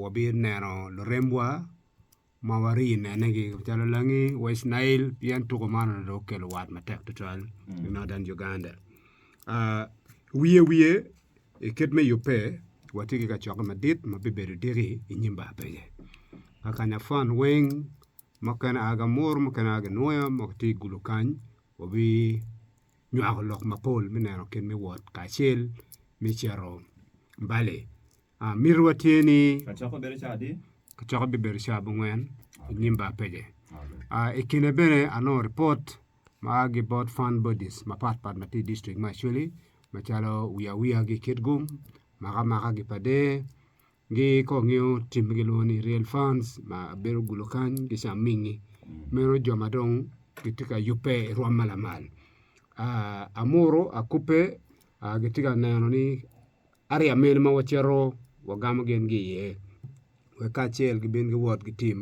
wabineno lurembwa ma wari nene gi calo langi West Nile pien tuko man onongo dong okelo wat matek tutwal i Northern Uganda. Wiye wiye i kit me yubbe watye ki kacokke madit ma bibedo diki i nyim bar pege. Kakanya fun weng mukene aa ki Amuru mukene aa ki Nwoya ma gitye i gulu kany wabi nywako lok mapol me neno kit me wot kacel me cito bali. Mitowa tye ni kacokke bibedo caa abongwen i nyim bar pege. I kine bene anongo ripot ma a ki bot fund bodies mapat pat ma tye i dictrict me Acholi macalo wiyawiya ki i Kitgum, makamaka ki pa Deer, Gi kong ngiyo team ma gilwongo ni real fans ma bedo gulo kany ki ca mingi meno jo ma dong gitye ka yubbe i rwom ma lamal amuru akubbe gitye ka neno ni area mene ma wacito wagamo gin gi iye wek kacel gibin giwot ki team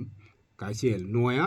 kacel nwoya.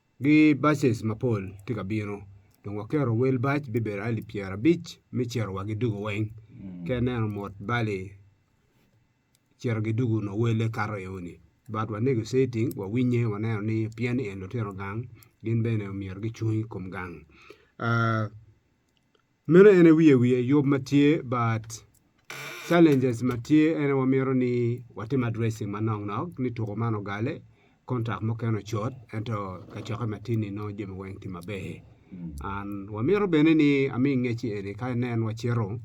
Gi baces mapol tye ka bino dong waketo wel bac bibedo alip pyera abic me cito wa gi dugo weng ka ineno mot bali cito gi dugo nyo wele kato eo ni but wa negotiating wa winye wa neno ni pien ni en lutino gang gin bene myero gicung i kom gang Meno en aye wiye wiye yub ma tye but challenges ma tye en aye wamito ni watim addressing manok nok ni tuko man ogale, contract mukene ocot ento kacokke ma tini nongo jami weng tye maber and wamito bene ni ami ingecci eni ka inen wacito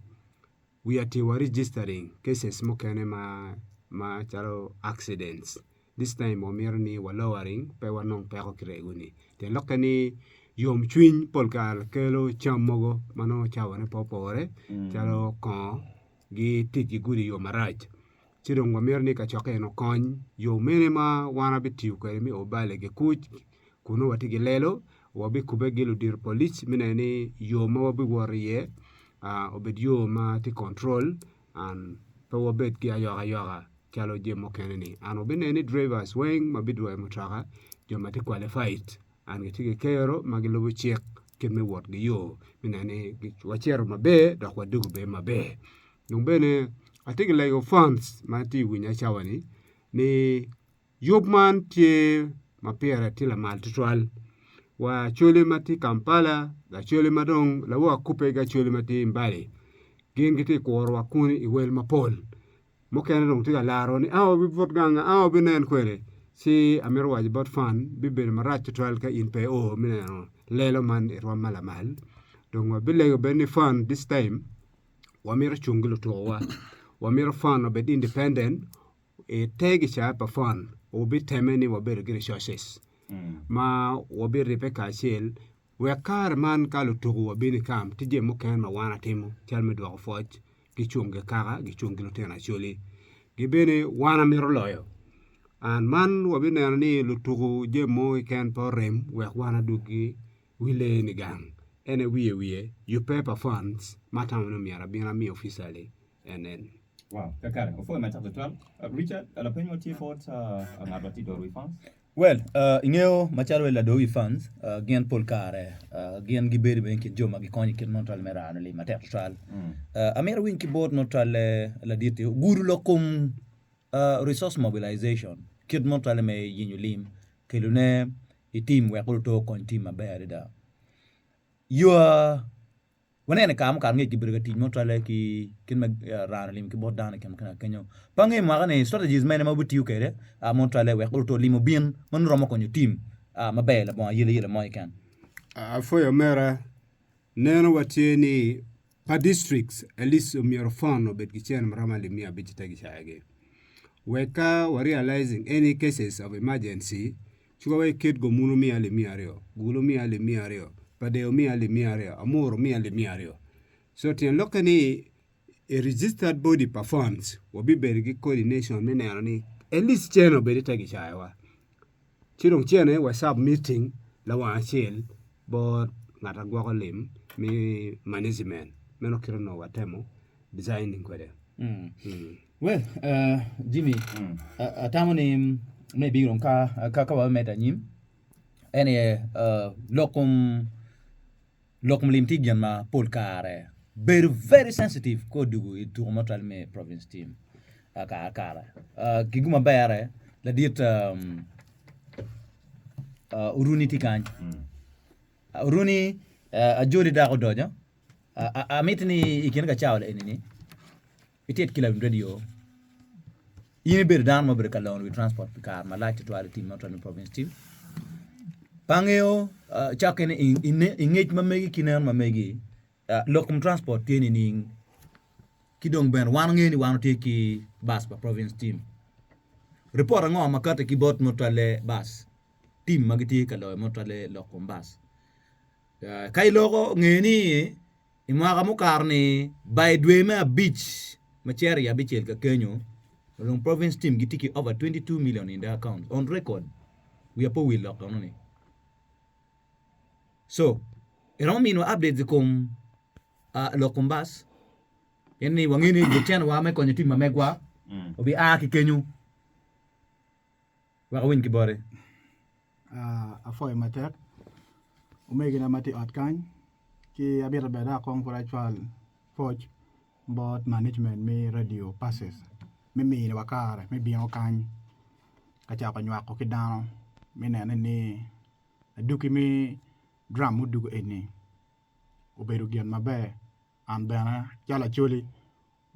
we are to wa registering cases mukene ma ma calo accidents. This time wamito ni wa lowering pe wanong peko ki rego ni pien lok kene yom cwiny pol kare kelo cam mogo ma nongo cawa ne pe opore calo kongo gi tic ki gudi yo marac ci dong wa mito ni ka cokke eni okony yo mene ma wan wa bitiyo kwede me o bale ki kuc kun nongo watye ki lelo wa bikube ki ludito polic me neno ni yo ma wa biwot iye obed yo ma tye control An, pe wabed ki ayokayoka calo jami mukene-ni. An wabineno ni drivers weng ma bidwoyo mutoka, jo ma tye qualified and gitye ki kero ma gilubo cik kit me wotgi yo me neno ni wacito maber dok wadwogo bene maber. Dong bene atye ka lego phones ma tye ka winya cawa-ni ni Yub man tye ma pire tye lamal tutwal wa acholi ma tye i Kampala, acholi ma dong lawor kubbe ki acholi ma tye i Mbale gin gitye ka kurowa kuni i wel mapol mukene dong tye ka laro ni a wabibut gang a wabinen kwede ci amito waco bot Fan bibedo marac tutwal ka in pe i oo me neno lelo man i rwom ma lamal dong wabilego bene ni Fan this time wamito cung ki lutukuwa wamito Fan obed independent. I te gica pa fon, wubitemme ni wabedo ki resources ma wabiribbe kacel wek kare man ka lutuku wabino i kam, tye jami mukene ma wan atimo calo me dwoko pwoc, gicung gi kaka, gicung ki lutino Acholi. Ki bene wan amito loyo and man wabineno ni lutuku jami mogo keken pe orem wek wan adwogi wi lee ni gang. En aye wiye wiye, yubbe pa funds ma atamo ni myero abin amiyo officially. NN. Well, ingeyo macalo wai lador wi fans gin pol kare gin gibedo bene ikin jo ma gikonyo ikit mono twal me rano lim matek twatwal. Amito awiny ki bot mono twal ladit ni ogudo lok kom resource mobilization kit mono twale me yenyo lim kelo ne i team wek kulu oto okony team maber adada. Yo Waneno i kare mukato ngec kibedo ka tic mo cwalle ki kit ma raa olim ki bot dano i kin mukene kenyo. Pa angeyo mwaka ni strategies mene ma wabitiyo kwede mon cwalle wek luto olim obin ma nongo romo konyo tim maber labongo ayele yele mo keken. Apwoyo omera, neno wa tye ni pa districts at least omyero fund obed ki cen ma romo alip miya abic i te gicaya gi. Wek ka wa realizing any cases of emergency Ci wa wek kit gomunu omiya limiya aryo, gulu omiya limiya aryo, padeo omiya limiya aryo, amuru omiya limiya aryo. So tyen lokke ni a registered body performs, wabibedo ki coordination me neno ni at least cene obed ite gicayowa. Ci dong cene wa submitting lawang acel bot ngat ma gwoko lim me management. Meno kit onongo watemo designing kwede. Well, Jimmy, atamo ni me ibino ka wa me medo anyim, en aye lok kom lok kom lim tye gin ma pol kare bedo very sensitive ka odwogo i tuko mo calo me province team kare kare ki gin ma berre ladit Oruni tye kany, Oruni ajoli dako odoco amito ni i kin kacawa eni ni. Itit ki lawiny redio. In ibedo dano ma obedo ka longo wi transport pi kare malac tutwal i tim ma otal ni Province Team. Pa angeyo cakke ni i ngec ma megi ki neno ma megi, lok kom transport tye nining? Ki dong bene wan wangeyo ni wan watye ki bus pa Province Team. Ripot ango ma kati ki bot ma otwalle bus team ma gitye ka loyo ma otwalle lok kom bus? Ka iloko nge ni I mwaka mukato-ni, ba i dwe me abic ma cero i abicel ka kenyo, Olong Province Team gitye ki over twenty two million in their accounts on record. Wiya pe owil lok enoni. So, iromo miniwa updates i kom ah, lok kom bas? Pien ni wangeyo ni jecen wa me konyo tim ma megwa obi a ki kenyo. wek awiny ki boti. Apwoyo matek omegina ma tye i ot kany ci amyero bene dok akong pud acwal pwoc bot management me Radio Pacis me miyowa kare me bino kany ka cako nywako ki dano me nene ni aduki me drum muduku eni obedo gin maber an bene calo acwali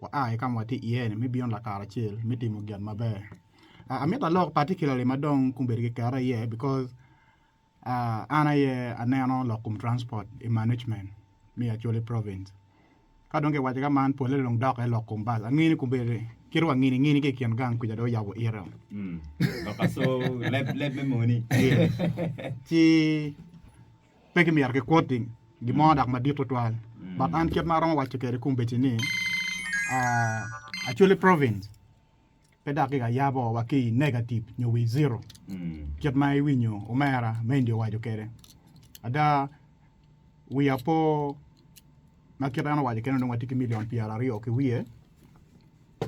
Waa i ka ma watye iye-ni me bino lakaracel me timo gin maber. Amito alok particularly ma dong kong bedo ki kera iye because an aye aneno lok kom transport i management me Acholi province. Ka dong kiwaco ka man pole dong dokke lok kom bus. Angeyo ni kong bedo kit wa ngini ngini ki i kin gang kuca dong oyabo ite. Leb me moni. Ci Pe kimito kikwoti gin mo dok madit tutwal, but an kit ma aromo waco kwede kombeddi ni, actually province pe dok giga yabo wa ki i negative nyo wi zero kit ma iwinyo omera me India owaco kwede. Ada wiya po ma kit en owaco kene onongo watye ki million pyer aryo ki wiye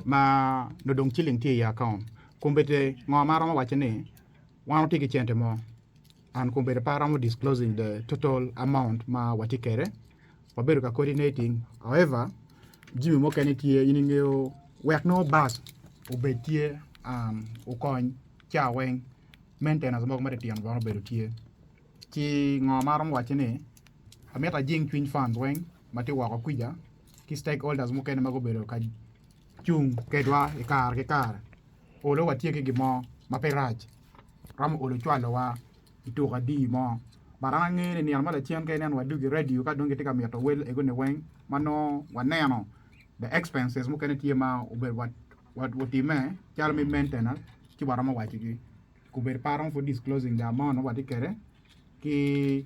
ma nongo dong ciling tye i account. Kombeddi ngo ma aromo waco ni wan watye ki cente mo? and kong bedo pe aromo disclosing the total amount ma watye kede wabedo ka coordinating however jimi mukene tye in ingeyo wek nongo bus obed tye um, okony ca weng maintenance mogo matitino bene obedo tye ci ngo ma aromo wacce ni amito ajing cwiny fund weng matye woko kwija ki stakeholders mukene ma gubedo ka cung kedwa i kare ki kare. Olo watye ki gin mo ma pe rac romo olo cwalowa i tuko adiyi mo. But an angeyo ni nino ma lacen ka ineno wadgi i radio ka dong gitye ka mito wel egoni weng ma nongo waneno the expenses mukene tye ma obedo watimme calo me maintenance ci waromo wacigi. Obedo pe aromo pud disclosing the amount ma watye kwede ki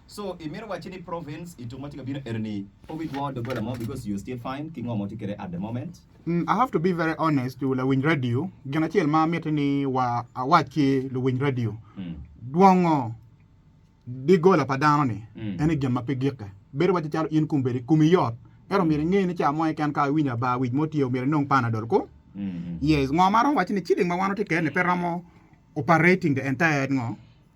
So imito wacci ni province ituk ma tye ka bino enini pe wi gwongo dogola mo because you're still fine ki ngo ma watye kwede at the moment? Umm I have to be very honest to lawiny radio, gin acel ma mitte ni wa awac ki luwiny radio, dwongo digola pa dano ni ene gin ma pe gikke, bedo wacci calo in kumbedi kumi yot ento myero inge ni ca mo keken ka iwinyo aba wic mo tye myero inong panadol ko, yes ngo ma aromo wacci ni ciling ma wan watye kwede ni pe romo operating the entire ngo.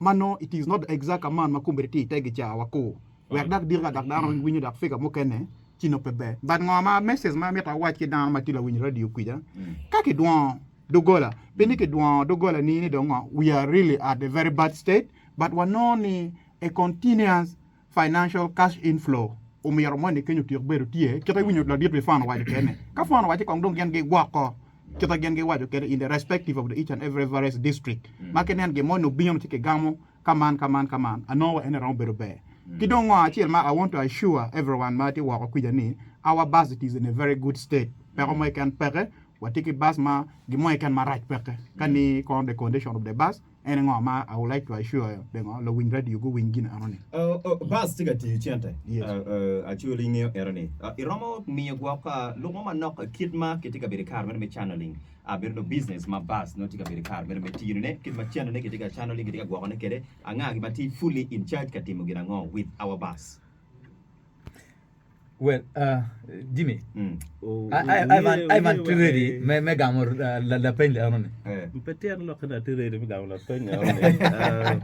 ma nongo it is not the exact amount ma kombeddi tye ite gica wa ko wek dak dika dak dano mm winyo dak figure mukene ci nongo pe ber but ngo ma message ma amito awac ki dano ma tye lawiny radio kwica mm ka ki dwongo dogola pi ni ki dwongo dogola ni ni dong ngo we are really at a very bad state but wa nongo ni a continuous Financial Cash Inflow, Omyero moni kenyo otyek bedo tye kit ma iwinyo ladit pi Fwano Waco Kene. Ka Fwano Waco kong dong gin gigwoko kit ma gin giwaco kede in the respective of the each and every various district ma ki neno gin mo ni obino ci ki gamo ka man ka man ka man anongo wa ene romo bedo ber. Ki dong ngo acel ma I want to assure everyone ma tye woko kwica ni our bus it is in a very good state peko mo keken peke, watye ki bus ma gin mo keken marac peke ka ni kono the condition of the bus. En ango ma aulecwa icoyo pingo luwiny radio guwiny gin enoni? Buzz tye ka tiyo cente acoyo lingeyo enoni. Iromo miyo gwok lukmo manok kit ma kitye ka bedo i kare meno me channeling. Bedo nongo business ma Buzz nongo tye ka bedo i kare meno me tiyo ne kit ma cennone kitye ka channeling kitye ka gwoko ne kwede. Anga gin ma tye fully in charge ka timo gin ango with our Buzz? Well, uh, Jimmy, Mm. Oh, I, I, I, want, I want to ready me, me gamo uh, la, la peny leno ni. Eh. Pe tyero lok na ti ready me gamo la peny leno ni. Uh,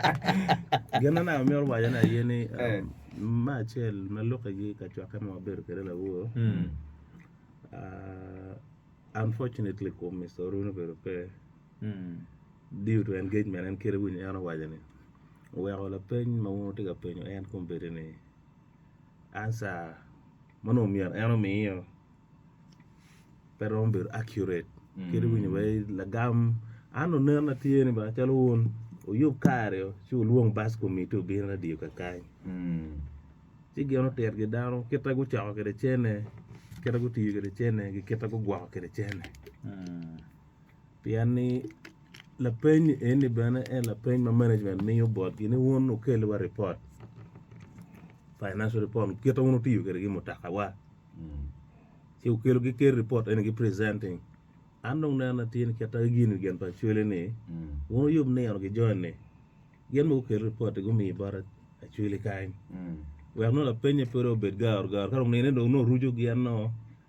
gin na naka myero waja na aye ni um, Eh. ma acel ma lukke gi ka cwakke ma wabedo kede lawo. Mm. Uh, unfortunately kum Mr. Oruni obedo pe Mm. due to engagement en kede winyo en owaco ni oweko lapeny ma wun wutye ka penyo en kum bedi ni answer ma onongo myero en omiyo pe romo bedo accurate kadi winyo wa i lagam an onen na tye ni ba calo wun wuyub kare o ci wulwong bac komitti obin radio kakany ci gin otit gi dano kita gucoko kwede cene kita gutiyo kwede cene kita gugwoko kwede cene Pien ni lapeny eni bene en lapeny ma management miyo botgi ni wun wukelliwa ripot financial report kite wun wutiyo kwede ki mutakawa ci wukelo gikel ripot eni gi presenting an dong nena tye ni kit agi gini gen pa acwele ni wun wuyub nino ki joni gin ma gukel ripot gumiyi bot acwele kany wek nongo lapenye pe dong obed garu garu ka dong nine dong nongo oruco gin nongo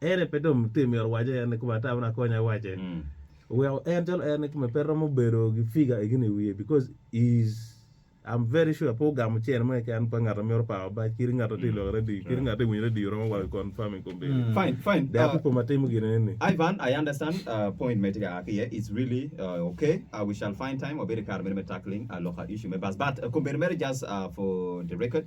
Ere pe dong tye myero owace en ni kome ata wun akonya iwace. Oweko en calo en ni kome pe romo bedo gi figure egini iwiye because is I'm very sure pe ogamo cene mo keken pa ngat amyero power bac kiri ngat atye lok radio kiri ngat ewinyo radio romo wa confirm in company. Fine fine. Dea pe kome atimo gine eni. Ivan I understand point me tye ka aa ki iye it's really ok we shall find time wabedo ikare meno me tackling loka issue me bus but company meno just for the record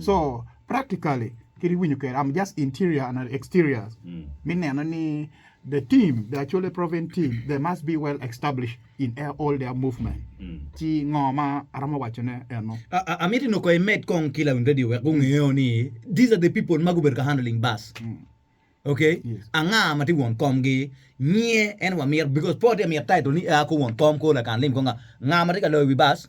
So, practically, kit iwinyo kwede, I'm just interior and exterior, me neno ni the team, the Acholi Province team, they must be well established in all their movement. Ci ngo ma aromo wacone eno. Amiti nongo imed kong ki lawiny radio wek gungeo ni these are the people ma gubedo ka handling bus. Ok, anga ma tye won kom gi? Nyiye en wamito because po tye ka mito title ni aa ko won kom ko lakan lim ko nga. Nga ma tye ka loyo wi bus?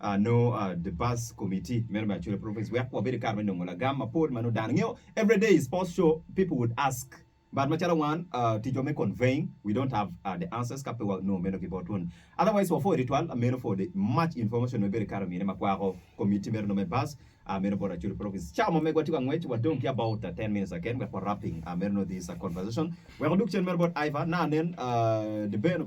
nongo the bus committee meno me Acholi province wek wabedo ki kare me nongo lagam mapol ma nongo dano ngiyo every day is post show people would ask but macalo wan ticwa me conveying we don't have the answers ka pe wa nongo meno ki botwa ni otherwise wa for twitwal meno for the much information me bedo kare omine ma kwako committee meno nongo me bus meno bot Acholi province cawa ma megwa tye ka ngwec wa dong ki about 10 minutes keken wek wa wrapping meno nongo this conversation wek odug cen meno bot Iva na nen the Ben obedo